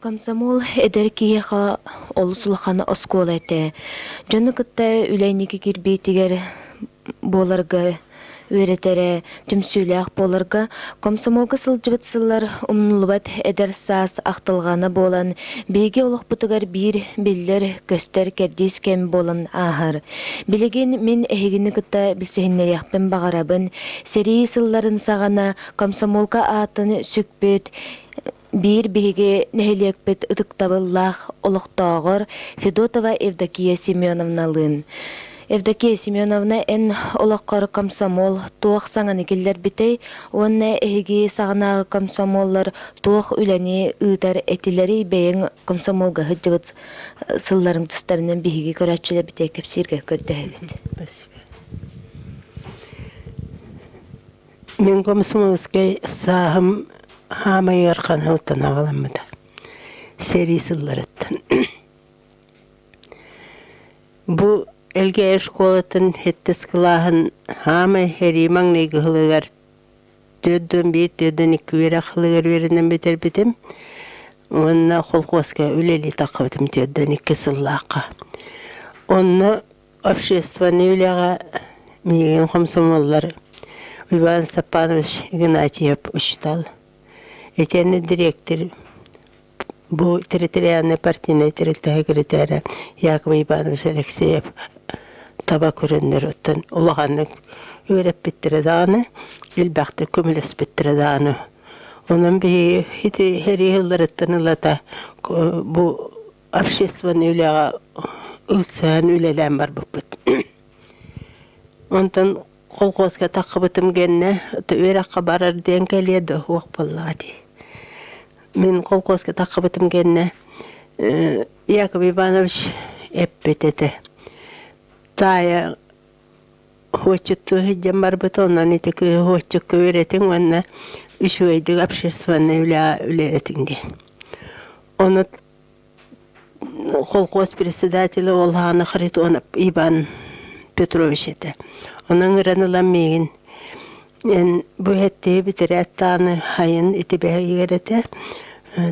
Комсомол эдэр киһиэхэ олус улахан оскуола этэ. Дьону кытта үлэ инники кирбиитигэр буоларга үөрэтэрэ, түмсүүлээх буоларга комсомолга сылдьыбыт сыллар умнуллубат эдэр саас ахтылҕана буолан, биһиги олохпутугар биир биллэр-көстөр кэрдиис кэм буолан ааһар. Билигин мин эһигини кытта билсиһиннэриэхпин баҕарабын. Сэрии сылларын саҕана комсомолга аатын сүкпүт биир биһиги нэһилиэкпит ытыктабыллаах олохтооҕор Федотова Евдокия Семеновналыын. Евдокия Семеновна эн олоххор комсомол туох саҥаны киллэрбитэй уонна эһиги саҕанааҕы комсомоллар туох үлэни ыытар этилэрий бэйэҥ комсомолга сылларым сылларың тустарынан биһиги көрөөччүлэр битэ кэпсииргэ көрдөһөбүт. Спасибо. Мин комсомольскай сааһым хаамай ыархан сылтан аҕаламмыта, сэрии сылларыттан. Бу Элгээйи школатын сэттис кылааһын хаамай эрии маҥнай кыһылыгар түөрт уон биир, түөрт уон икки үөрэх сылыгар үөрэнэн бүтэрбитим уонна колхуоска үлэлии таххабытым түөрт уон икки сыллаахха. Онно общественнай үлэҕэ миигин хомсомуоллар Иван Степанович Игнатьев учуутал, итиэннэ дириэктир, бу территориальнай партийнай тэрилтэ секретэрэ Яков Иванович Алексеев таба көрөннөр оттон улаханнык үөрэппиттэрэ даҕаны, элбэхтик көмөлөспүттэрэ даҕаны. Онон биһиги ити эрий сылларыттан ылата бу общественнай үлэҕэ ыксаан үлэлээн барбыппыт. Онтон колхозка таххыбытым гэннэ үөрэххэ барар диэн кэлиэ да уох буоллаҕатый. Мин колхозка таххыбытым гэннэ Яков Иванович эппит этэ таайа отчуттуу сылдьан барбыт онон ити кыыһы отчукка үөрэтиҥ уонна үчүгэйдик общественнай үлэҕэ үлэлэтиҥ диэн. Ону Колхоз председателэ ол аана Харитонов Иван Петрович этэ. Онон ыран ылан миигин эн бу эттии бүтэрээт даҕаны хайын итибэһигэр этэ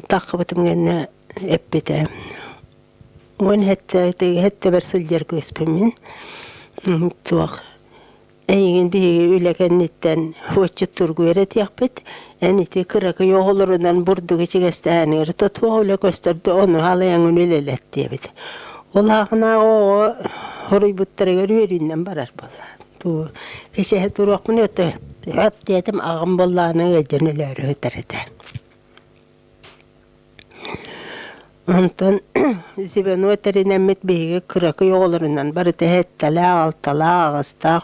таххыбытым гэннэ эппитэ уон һэттэбэр сылдьар күөспүммүн туох Эйигин биһиги үлэ кэнниттэн отчуттургу эрэ этиэхпит. Эн ити кыракый оҕолорунан бурдук ичигэстэһэниэр тотуох үлэ көстөрдө ону халыйаҥ үлэлэлэр диэбит. Ол аахынааҕы оҕо хоруйбуттарыгар үөрүүннэн барар буоллаан. Бу кэчэһэ туруохпун өтө. Ап диэтим аҕам боллааны ыйдьан өлөөрү ытар этэ. Онтон звено тэринэммит биһиги кыракый оҕолорунан барыта иһэттэлээх, алталаах, аҕыстаах,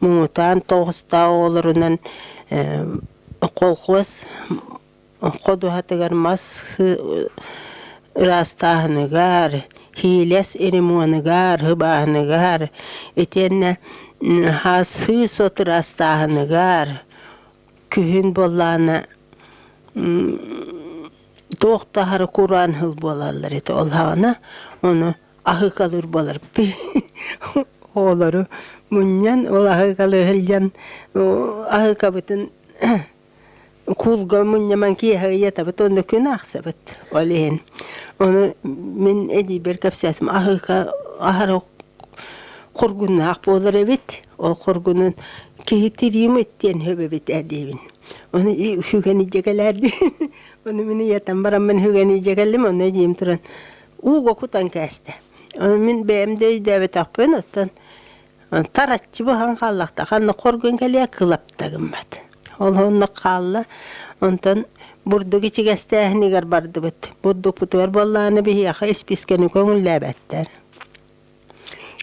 муҥутаан тоҕустаах оҕолорунан колхоз ходуһатыгар мас ыраастааһыныгар, һиилэс ремонугар, һыбааһыныгар, итиэннэ һаасыы сот ыраастааһыныгар, күһүн буоллаана туох таһара кураан хыл буолаллар ити ол хаана ону аһыкалыыр буолар оолору мунньан ол аһыкалы сылдьан аһыкабытын куулга мунньаман киэһэ ыйатабыт онно күн аахсабыт ол иһин ону мин эдийбэр кэпсээтим аһыка аһара кургуннаах буолар эбит ол хоргунун киһи тириимит диэн хөбөбүт диэбин ону үгэни дьэгэлээрди ону мин ийэтэн бараммын үгэни дьэгэллим ону диим туран ууга кутан кээсте ону мин бэйэм да өйдөөбөтөхпүн оттон тараччы буһан хааллахта ханна хоргун кэлиэ кылапта гыммат ол оннук хаалла онтон бурдук ичигэстээһинигэр бардыбыт бурдукпутугар буоллааны биһиэхэ испискэни көҥүллээбэттэр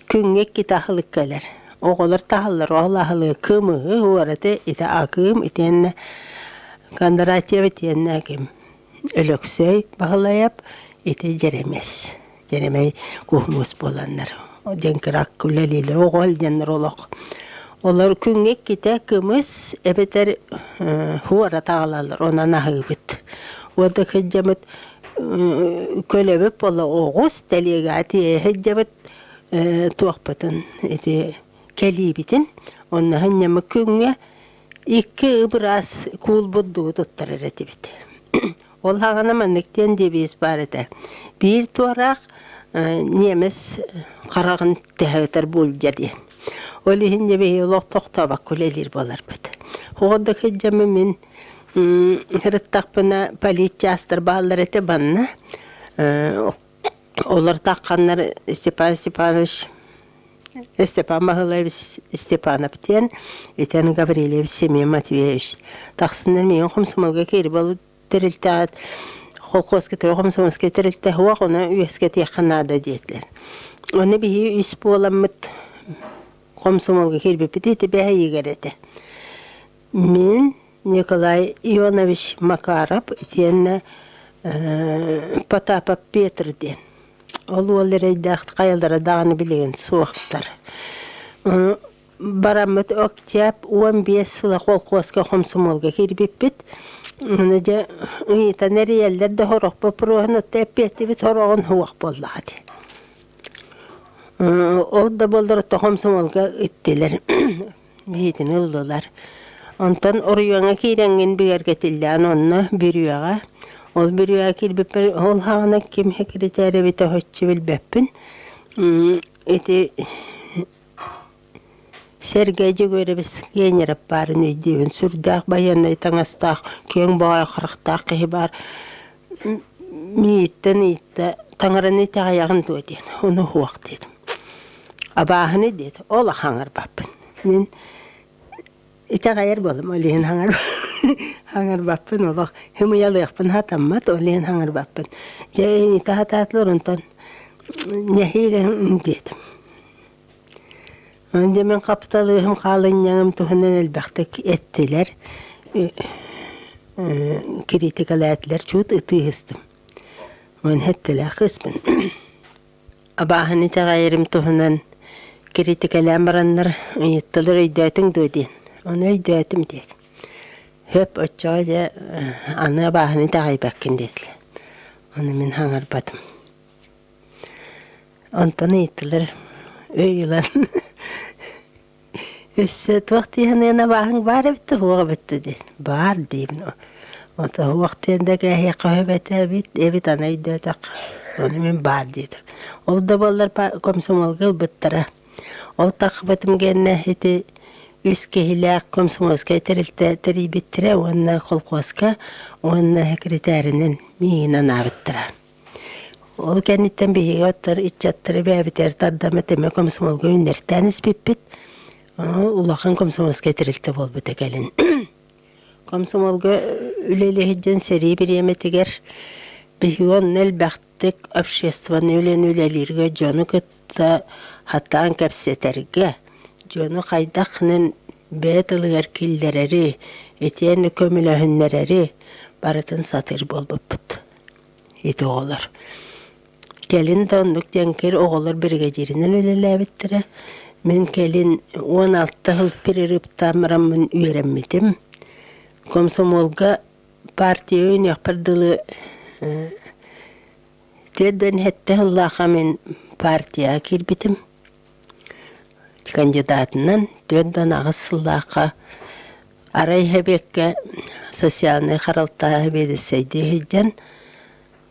Күҥҥэ иккитэ аһылык кэлэр. Оҕолор таһаллар ол аһылыгы кым ыһы уораты итэ акыым итиэннэ Кондратьев итиэннэ ким Өлөксөй Баһылайап ити Дьэрэмэс Дьэрэмэй куһмуус буоланнар дьэҥкирак үлэлиилэр оҕо илдьэннэр олох олор күҥҥэ иккитэ кымыс эбэтэр э, уорат аҕалаллар онон аһыыбыт. Уода кыддьамыт көлөбүт буола оҕус тэлиэгэҕэ тиэһэйдэбит туохпутун ити кэлиибитин онно сынньаммы күҥҥэ икки ыбыраас куул бурдугу туттарар этибит ол саҕана маннык диэн диэбиэс баар этэ биир туораах немец хараҕын тэһэ ытар буулдьа диэн ол иһин дьэ биһиги олох тохтообокко үлэлиир буоларбыт оҕо да сылдьаммын мин Сырыттахпына политчаастар бааллар этэ банна. Олор тахханнар Степан Степанович Степан Махылаевич Степанов диэн итэн Гаврильевич Семен Матвеевич тахсыннар миигин хомсомолго киири болут тэрилтэҕит холкуоскатары хомсомолскай тэрилтэ уох оны үөскэтиэххэ наада диэтилэр. Оны биһи үс буоламмыт хомсомолго киирбиппит ити бэһэйигэр этэ. Мин Николай Ионович Макаров итиэннэ Потапов Петр диэн ол уол эрэйдээх хайалара даҕаны билигин суохтар бараммыт октябрь уон биэс сыла холкуоска хомсомуолга кирбиппит аны дьэ ыйытан эрийэллэр да сорох боппуруоһун отто эппиэттибит сороҕун суох буоллаҕа дии ол да буоллар отто хомсомуолга иттилэр биһитини ыллылар. Онтон оройуоҥҥа киирэҥҥин бигэргэтиллээн онно бүрүөҕэ. Ол бүрүөҕэ киирбиппин ол хаана ким секретарь эбитэ оһоччу билбэппин. Ити Сергей Егорович Генеров баарын өйдүүбүн. Сүрдээх байыаннай таҥастаах, күөҥ боҕой харахтаах киһи баар. Мииттэн ыйытта, «Таҥараны итэҕэйэҕин дуо?» диэн. «Ону уһуох» диэтим. «Абааһыны» диэт, ол хаҥарбаппын. Мин итэҕэйэр буоллум, ол иһин хаҥар хаҥарбаппын олох хымыйалыахпын сатаммат, ол иһин хаҥарбаппын. Дьэ иһитэ сатаатылар, онтон «Нэһиилэ» диэтим. Аны дьэ мин хапталыыһым хаалынньаҕым туһунан элбэхтик эттилэр, кириитикэлээтилэр, чуут ытыы ыһыстым. Ону эттилэр кыыспын абааһыны итэҕэйэрим туһунан кириитикэлээн бараннар ыйыттылар өйдөөтүҥ дуо диэн. Ону өйдөөтүм диэн «Хөп, оччоҕо дьэ аны абааһыны итэҕэйбэккин» диэтилэр. Ону мин хаҥарбатым Онтон ыйыттылар өй ылан өссө туох диэһин абааһыҥ баар эбит да суох эбит да диэн баар диибин ото суох диэн да кээһиэххэ сөп этэ эбит эбит аны өйдөөтөххө ону мин баар диэтим ол да буоллар комсомолга ылбыттара ол тахпытым гэннэ ити үс киһилээх комсомольскай тэрилтэ тэрийбиттэрэ уонна колхозка уонна секретэринэн миин анаабыттара Ол кэнниттэн биһиги оттор ыччаттары бэйэбитигэр тардаммыт эмэ комсомолга үүннэртээн испиппит. улахан комсомольскай тэрилтэ буолбута кэлин. Комсомолга үлэлэһидден сэрии бириэмэтигэр биһиги онно элбэхтик общественнай үлэни үлэлииргэ дьону кытта хаттаан кэпсэтэргэ, дьону хайдахнын бэйэ тылыгар киллэрэри, итиэннэ көмөлөһүннэрэри барытын сатыыр буолбуппут. ити оҕолор. Кэлин да оннук диэн кэл оҕолор биригэдьииринэн үлэлээбиттэрэ. Мин кэлин уон алта сыл перерыптамраммын үөрэммитим. Комсомолга партия өйөнүөхпэр дылы э, түөрт да сэттэ сыллаахха мин партияҕа киирбитим. Кандидатынан түөрт уон аҕыс сыллаахха арай эбиэккэ социальнай харалтааһы биэдиссэйдии сылдьан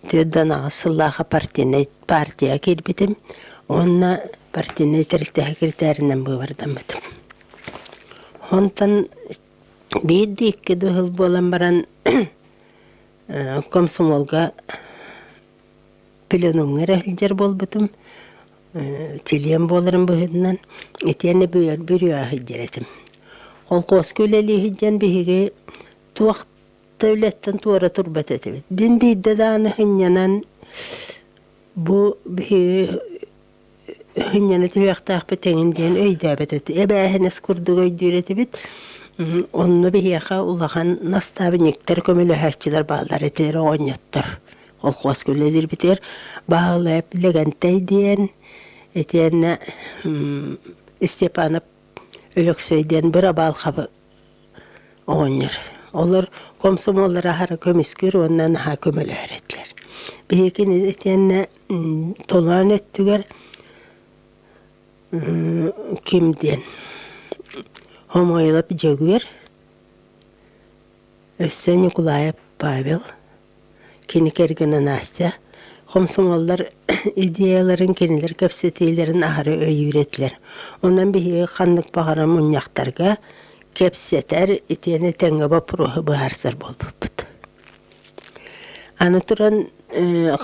түөрт уон аҕыс сыллаахха партийнай партияҕа киирбитим уонна партийнай тэрилтэҕэ киритээринэн быыбардаммытым. Онтон биир да икки да сыл буолан баран комсомолга пленумҥа эрэ сылдьар буолбутум, чилиэн буоларым быһыытынан итиэннэ бүрүө сылдьар этим. Холкуоска үлэлии сылдьан биһиги туох да үлэттэн туора турбат этибит. Бин биирдэ даҕаны сынньанан бу биһиги Инньэни түһүөхтээхпит эҥин диэн өйдөөбөт эт эбээһинэс курдук өйдүүр этибит. Онно биһиэхэ улахан настаабынньыктар көмөлөһөөччүлэр бааллар этилэр оҕонньоттор. Колхуоска үлэлиирбитигэр Баһылап Лэгэнтэй диэн итиэннэ Степанов Өлөксөй диэн бырабаалкаба оҕонньор. Олор комсомоллар аһара көмүскүр уонна наһаа көмөлөһөр этилэр. Биһиги кини итиэннэ толоон өттүгэр ким диэн Хомойлоп Дьөгүөр, өссө Ньукулаайап Павел, Кини кэргэнэ Настя хомсоҥоллор идеяларын кинилэр кэпсэтиилэрин аһары өйүүр этилэр. Онон биһиги ханнык баҕарар мунньахтарга, кэпсэтэр, итиэннэ тэҥҥэ боппуруоһу быһаарсар буолбуппут. Аны туран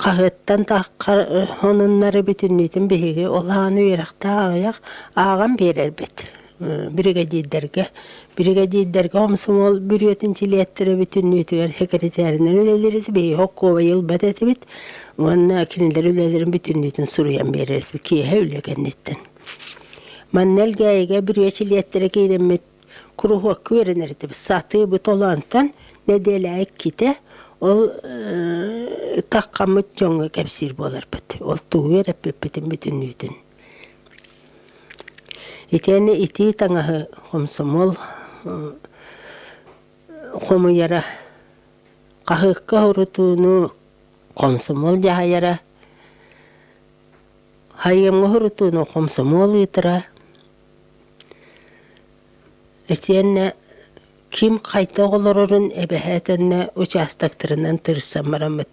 хаһыаттан таххар хонуннары бүтүннүүтүн биһиги ол ааны үөрэхтээх аҕыйах ааҕан биэрэрбит. биригэдиирдэргэ биригэдиирдэргэ хомсомуол бүрүөтүн силиэттэрэ бүтүннүүтүгэр секретаринан үлэлиир биһиги Хоккова ылбат этибит уонна кинилэр үлэлэрин бүтүннүүтүн суруйан биэрэрбит киэһэ үлэ кэнниттэн манна Элгээйигэ бүрүө силиэттэрэ киирэммит куруһуокка үөрэнэр этибит сатыыбыт олоонтон нэдиэлэ иккитэ ол таккаммыт дьоҥҥо кэпсиир буоларбыт ол тугу үөрэппиппитин бүтүннүүтүн Итиэннэ итии таҥаһы хомсомуол хомуйара, хаһыакка урутууну хомсомуол дьаһайара, айымҥы урутууну хомсомуол ыытара, итиэннэ ким хайдах олорорун эбэһээтэннэ учаастактарынан тырсан бараммыт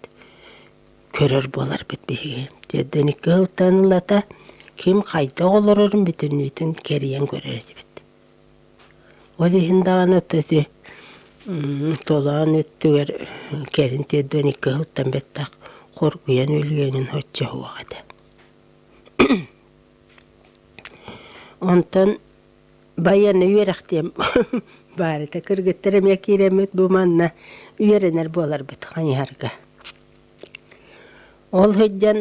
көрөр буоларбыт биһиги Дедоникка ылтаан ылата ким хайдах олорорун бүтүннүүтүн кэрийэн көрөр этибит ол иһин даҕаны ото ити толоон өттүгэр кэлин Дедоникка ыһылтан бэттэх хоргуйан өлүйэнин оччоһуох этэ онтон байыаннай үөрэхтиэм баарыта кыргыттар эмиэ киирэммит бу манна үөрэнэр буоларбыт хайыһарга Ол сылдьан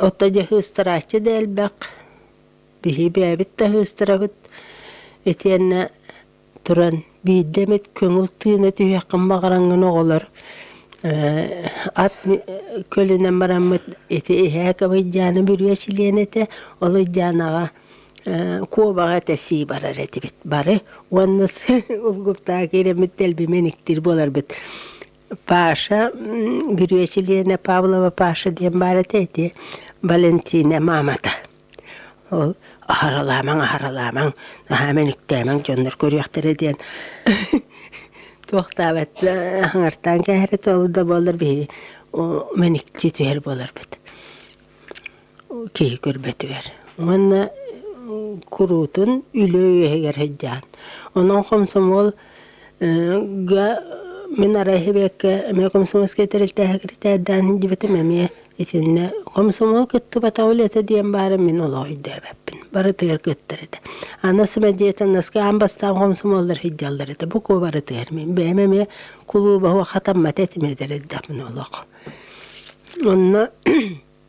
ото дьэ сыыстарааччы да элбэх, биһиэбээбит да сыыстарабыт итиэннэ туран биирдэ эмит көҥүл тыына түһүөххүн баҕараҥҥын оҕолор ат көлүнэн бараммыт ити иһээк Ылыйдьаана бүрүө чилиэнэ этэ, Ылыйдьаанаҕа куобаҕа тэсии барар этибит бары уонна улгуптаах киирэммит тэлбимэн иктир буоларбыт Паша бүрүө чилиэнэ Павлова Паша диэн баар этэ ити Валентина маамата ол аһаралаамаҥ аһаралаамаҥ наһаа мөнүктээмэҥ дьоннор көрүөхтэрэ диэн туохтаабат хаҥартаан кээһэрэ ол да буоллар биһиги мэникти түһэр буоларбыт киһи көрбөтүгэр уонна куруутун үлэ үөһүгэр сылдьаан онон хомсомуол га мин арай сибэкки эмиэ хомсомуолскай тэрилтээһэ киритээрдээн сылдьыбытым эмиэ итиннэ хомсомуол кыттыбатах үлэтэ диэн баара мин олох өйдөөбөппүн барытыгар кыттар этэ аны сэмэдиэтэн наскы аан бастаан хомсомуоллар сылдьаллар этэ бу куобарытыгар мин бэйэм эмиэ кулууба хатаммат этим эдэр эрдэхпинэ олох онно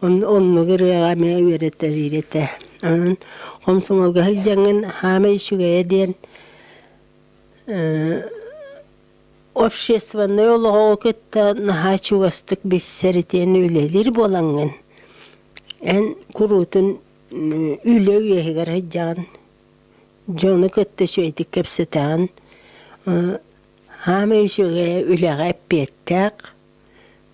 Оннук ырыаҕа эмэ үөрэтэлиир этэ. Онон хомсомолго сылдьаҥҥын «Хаамай үчүгэйэ» диэн общественнай олоҕу кытта наһаа чугастык билсэр итиэннэ үлэлиир буолаҥҥын, эн куруутун үлэ үөһүгэр сылдьаҕын, дьону кытта үчүгэйдик кэпсэтэҕин. «Хаамай үчүгэйэ» үлэҕэ эппиэттээх.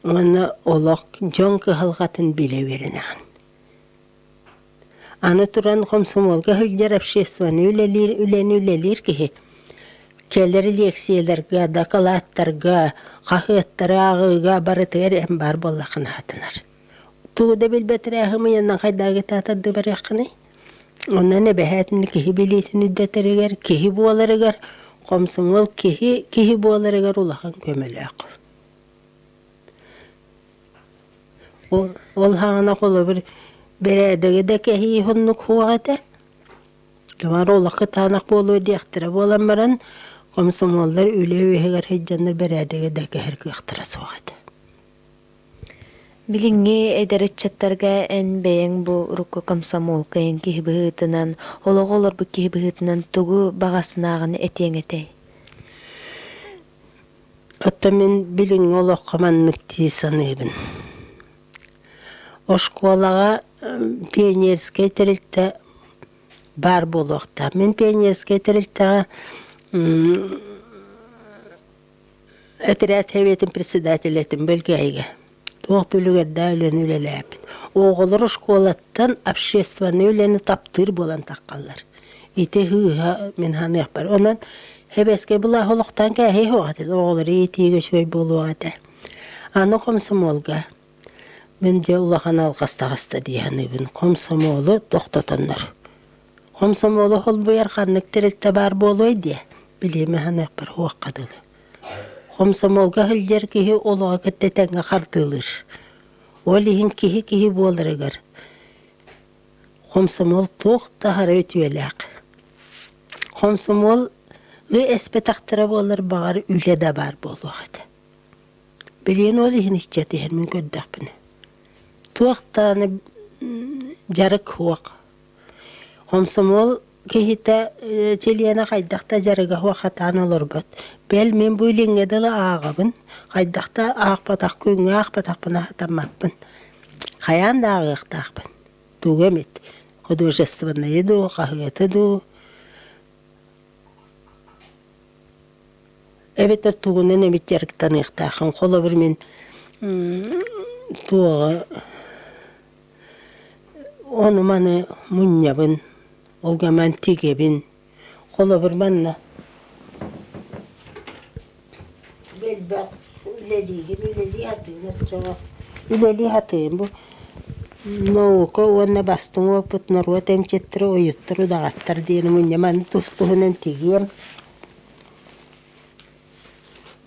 уонна олох дьон кыһалҕатын билэ үөрэнэҕин. Аны туран хомсомуолга сылдьар обществоны үлэлиир үлэни үлэлиир киһи кэлэр лиэксийэлэргэ, дакылааттарга, хаһыаттары ааҕыыга барытыгар эн баар буоллаххына хатынар. Тугу да билбэтирээ хымыйанна хайдаагытаатар да барыаххыный? Онон эбэһээтин киһи билиитин үрдэтэригэр, киһи буоларыгар, хомсомуол киһи киһи буоларыгар улахан көмөлөөх. Ол хаана холобур бэрээдэги да кэһии оннук суох этэ. Бары олох кытаанах буолуо диэхтэрэ буолан баран комсомоллар үлэ үөһүгэр сылдьаннар бэрээдэги да кэһэр кыахтара суох этэ. Билиҥҥи эдэр ыччаттарга эн бэйэҥ бу урукку комсомолка эн киһи быһыытынан олоҕу олорбут киһи быһыытынан тугу баҕасынааҕын этиэҥ этэй? Оттон мин билиҥҥи олоххо маннык дии саныыбын. Оскуолаҕа пионерскай тэрилтэ баар буолуохтаах. Мин пионерскай тэрилтэҕэ этэрээт сэбиэтин председатель этим бөлгөһүйгэ. туох да үлүгэрдээх үлэни үлэлээбит. Оҕолор оскуолаттан общественнай үлэни таптыыр буолан таххаллар. Ити һыыһа мин саныахпар. Онон хэбэскэ былаах олохтоон кээһиэһиэх этэ. Оҕолор иитиигэ үчүгэй буолуох этэ. Аны хомсомуолга мин дьэ улахан алҕас таҕыста дии саныыбын. Хомсомуолу тохтотоннор. Хомсомуолу холбуйар ханнык тэрилтэ баар буолуой диэ. Билиэм саныахпар уохха дылы. Хомсомуолга сылдьар киһи олоҕу кытта тэҥҥэ хардыылыыр. Ол иһин киһи киһи буоларыгар хомсомуол туох таһара үтүөлээх. Хомсомуолу эспэтэхтэрэ буоллар баҕар үлэ да баар буолуох этэ. Билигин ол иһин ыччат иһин мин көрдөхпүнэ туох даҕаны дьарык суох. Хомсомуол Киһитэ чилиэнэ хайдах да дьарыгаһы хатаан олорбот. Бэл мин бу илиҥҥэ дылы ааҕабын, хайдах да аахпатахха күҥҥэ аахпатахпына сатаммаппын. Хайаан да ааҕыахтаахпын. Тугу эмит, художественнайы дуу, хаһыаты дуу, эбэтэр тугунан эмит дьарыктаныахтааххын. Холобур мин туоҕа Ону маны мунньабын, ол гаман тигэбин, холобур манна элбэх үлэлиигин, үлэлии сатыын оччоҕо үлэлии сатыым. Бу наука уонна бастыҥ уопут норуот эмчиттэрэ уйуттар удаҕаттар диэни мунньа маны тус-туһунан тигиэм.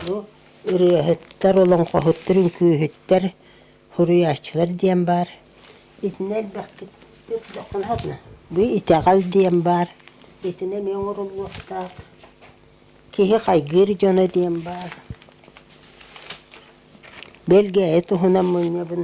Бу ырыаһыттар, олоҥхоһуттар, үҥкүүһүттэр Суруйааччылар диэн баар, итини элбэхтик этиэххэ наада. Бу итэҕэл диэн баар, итини эмиэ оҥоруллуохтаах. Киһи хайгыыр дьоно диэн баар. Бэлгэһэ туһунан мунньабын.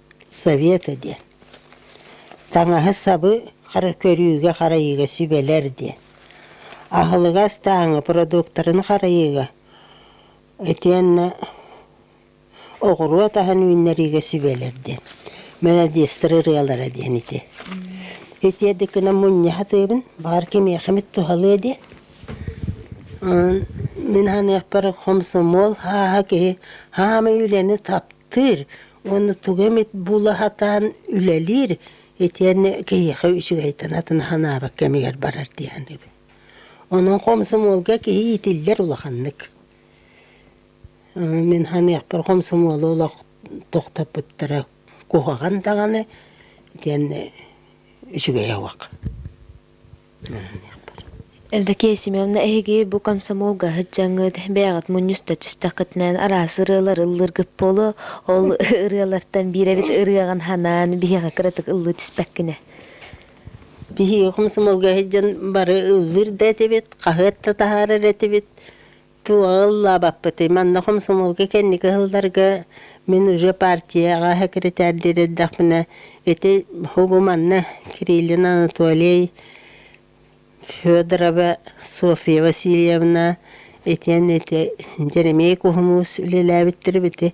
Совета диэн. Таҥаһы-сабы хара көрүүгэ-харайыыга сүбэлэр диэн. Аһылыгы астааҥҥа продуктарын харайыыга итиэннэ оҕуруот аһын үүннэриигэ сүбэлэр диэн. Молодецтар ырыалара диэн ити. Итиэрдик гынан мунньа сатыыбын, баҕар кимиэхэмит туһалыа диэн. Мин саныахпар хомсомуол хааһа киһи хаамай үлэни таптыыр, Уонна тугу эмит була сатаан үлэлиир итиэннэ киһиэхэ үчүгэйтэн атын санаабат кэмигэр барар дии саныыбын. Онон хомсомуолга киһи иитиллэр улаханнык. Мин ханыахпар хомсомуолу олох тохтоппуттара куһаҕан даҕаны итиэннэ үчүгэй ауақ Евдокия Семеновна эһиги бу комсомолга сыдьаҥҥыт бэйэҕит мунньуста түстэххитинэ араас ырыалар ыллыыргыт буолуо ол ырыалартан биир эбит ырыаҕын санаан биһиэхэ кыратык ыллыы түспэккинэ биһиги комсомолга сылдьан бары ыллыыр да этибит хаһыат да таһаарар этибит Тыаҕа ыллаабаппытый, манна хомсомуолга кэнники сылларга мин уже партияҕа секретардиир эрдэхпинэ, ити уһугу манна Кириллин Анатолий, Федорова Софья Васильевна, итиэннэ ити Дьэримиэй Куһумуус үлэлээбиттэр ити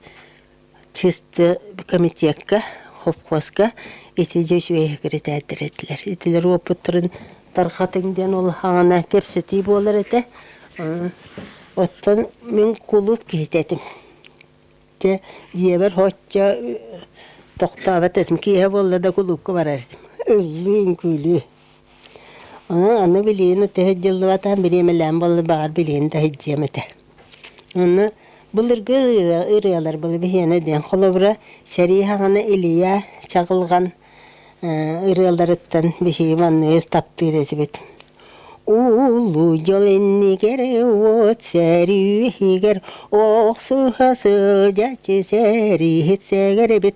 чисто комитекка, хопхуоска итиди үчүгэйи киритээттэр этилэр. Итилэр уопуттарын тархатыҥ диэн улахаҕына кэпсэтии буолар этэ. Оттон мин кулууп киһитэ этим. Дьэ, дьиэбэр һоччо тохтообот этим. Киэһэ буолла да кулуупка барар этим. Ыллыы-үҥкүүлүү. Онон аны билиэни таһыт дьыллыбатаан бириэмэлээн буоллар баҕар билиэни таһыддьыам этэ. Онно былыргы ырыа- ырыалар былы биһиэнэ диэн холобура сэрии хаҥана Илья Чаҕылҕан э, ырыаларыттан биһиги манныгы таптыыр этибит. Уулуу дьол иннигэр уот сэрии иһигэр охсуһа сылдьаччы сэрииһит сэгэр эбит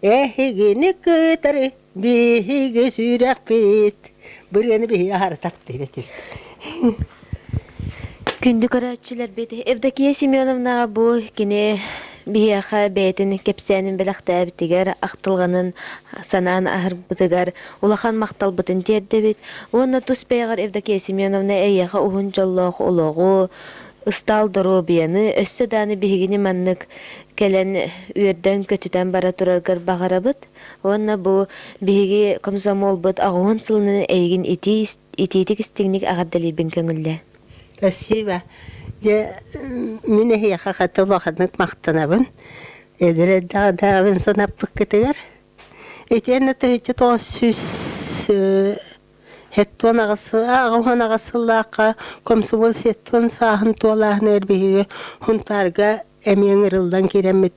Эһигини кытары биһиги сүрэхпит Бырыаны биһиги аһарытак диһигэ тириттик Күндү көрөөччүлэрбит, Евдокия Семеновнаҕа бу кини биһиэхэ бэйэтин кэпсээнин бэлэхтээбитигэр, ахтылҕанын санаан аһарбытыгар улахан махталбытын тиэрдэбит уонна тус бэйэҕэр Евдокия Семеновна эйиэхэ уһун дьоллоох олоҕу, Ыстаал доруобуйаны, өссө даҕаны биһигини маннык кэлэн үөрдэн-көтүтэн бара тураргар баҕарабыт. Уонна бу биһиги комсомолбут аҕуһун сылынан эйигин итиитик-истиҥник эҕэрдэлиибин көҥүллээн. Спасибо. Дьэ, мин эһиэхэ хата улаханнык махтанабын. Эдэр эрдэҕинээҕин санаппыккытыгар. Итиэннэ тыһыынча тоҕус сүүс Сеттуон аҕыс аҕыһын аҕыс сыллаахха комсомол сеттуон сааһын туолааһына эрбиһиги хунтаарга эмиэ ыҥырыллан киирэммит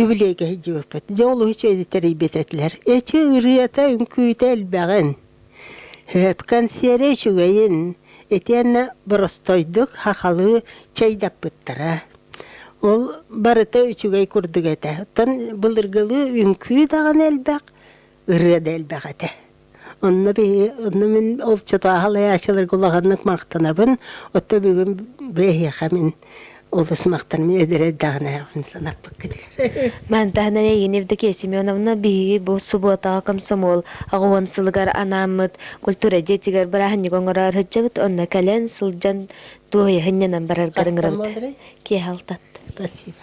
юбилейга сылдьыбыппыт. Дьэ олус үчүгэйдик тэрийбит этилэр. Эчи ырыата үҥкүүтэ элбэҕин, консерве үчүгэйин итиэннэ боростойдук хахалыы чайдаппыттара. Ол барыта үчүгэй курдук этэ. Оттон былыргылыы үҥкүү даҕаны элбэх, ырыа да элбэх этэ. Онно биһи, онно мин олчотааһалаячыларга улаханнык махтанабын. Оттон бүгүн быһыаха мин олус махтанабын эдэрэрдээх нэһэҕин санаппыт кытыгар. Мантаана Егин Евдокия Семеновна биһиги бу субуотаҕа комсомол аҕыһын сылыгар анааммыт культура дьиэтигэр бырааһынньык оҥорор сылдьабыт онно кэлэн сылдьан дуоһуйаһынньанан бараргар ыҥырабыт киэһэ алтатта спасибо